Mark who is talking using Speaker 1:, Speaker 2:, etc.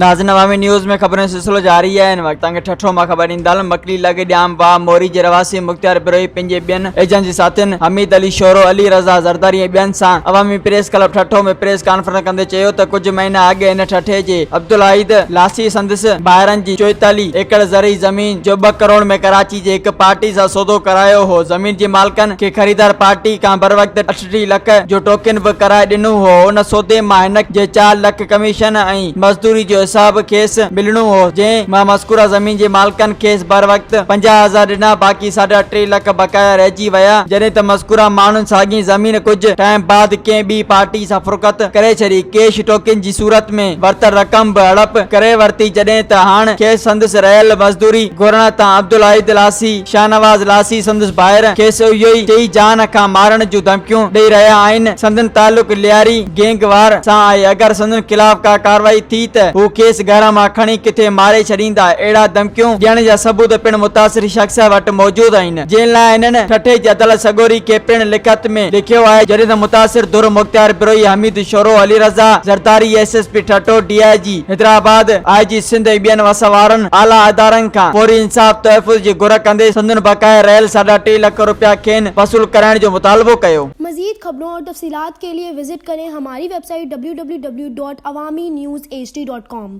Speaker 1: ناظرين عوامي نيوز ۾ خبرن جو سلسلو جاري آهي هن وقت تنگ ٺٺو مان خبر ڏيندل مڪلي لڳ ڄام واهه موري جي رهواسي مختيار بروهي پنهنجي ٻين ايجنسي ساٿين حميد علي شورو علي رضا زرداري ۽ ٻين سان Awami press club Thatta ۾ press conference ڪندي چيو ته ڪجهه مهينا اڳ هن ٺٺي جي عبدالواحد لاسي سندس ڀائرن جي چوئيتاليهه ايڪڙ زرعي زمين جو ٻه ڪروڙ ۾ ڪراچي جي هڪ پارٽي سان سودو ڪرايو هو، زمين جي مالڪن کي خريدار پارٽي کان بروقت ٽيٽيهه لک جو ٽوڪن به ڪرائي ڏنو هو، ان سودي مان هن جي چار لک ڪميشن ۽ مزدوري جو حساب کيس ملڻو هو، جنهن مان مذڪوره زمين جي مالڪن کيس بروقت پنجاهه هزار ڏنا، باقي ساڍا ٽي لک بقايا رهجي ويا، جڏهن ته مذڪوره ماڻهن ساڳين زمين ڪجهه ٽائيم بعد ڪنهن ٻي پارٽي سان فروخت ڪري ڇڏي، ڪيش ٽوڪن جي. صورت ۾ ورتل رقم به هڙپ ڪري ورتي جڏهن ته هاڻ کيس سندس رهيل مزدوري گهرڻ تان عبدالواحد لاسي، شاهنواز لاسي سندس ڀائر، کيس اهو ئي چئي جان کان مارڻ جون ڌمڪيون ڏئي رهيا آهن. سندن تعلق لياري گينگ وار سان آهي اگر سندن خلاف ڪا ڪارروائي ٿي ته هو کيس گهر مان کڻي ڪٿي ماري ڇڏيندا اهڙا ڌمڪيون ڏيڻ جا ثبوت پڻ متاثري شخص وٽ موجود آهن. جنهن لاء هنن ٺٽي جي عدالت سڳوري کي پڻ لکت ۾ لکيو آهي، جڏهن ته متاثر ڌر Mukhtiar Brohi, Hameed Shoro, Ali Raza Zardari, S S P Thatta, D I G Hyderabad, I G Sindh ۽ ٻين وس وارن اعليٰ ادارن کان فوري انصاف تحفظ جي گهر ڪندي سندن بقايا رهيل ساڍا ٽي لک روپيا کين وصول ڪرائڻ جو مطالبو ڪيو. مزيد خبرون اور
Speaker 2: تفصيلات کے لئے وزٽ ڪرين ھماري ويب سائيٽ www.awaminews hd.com.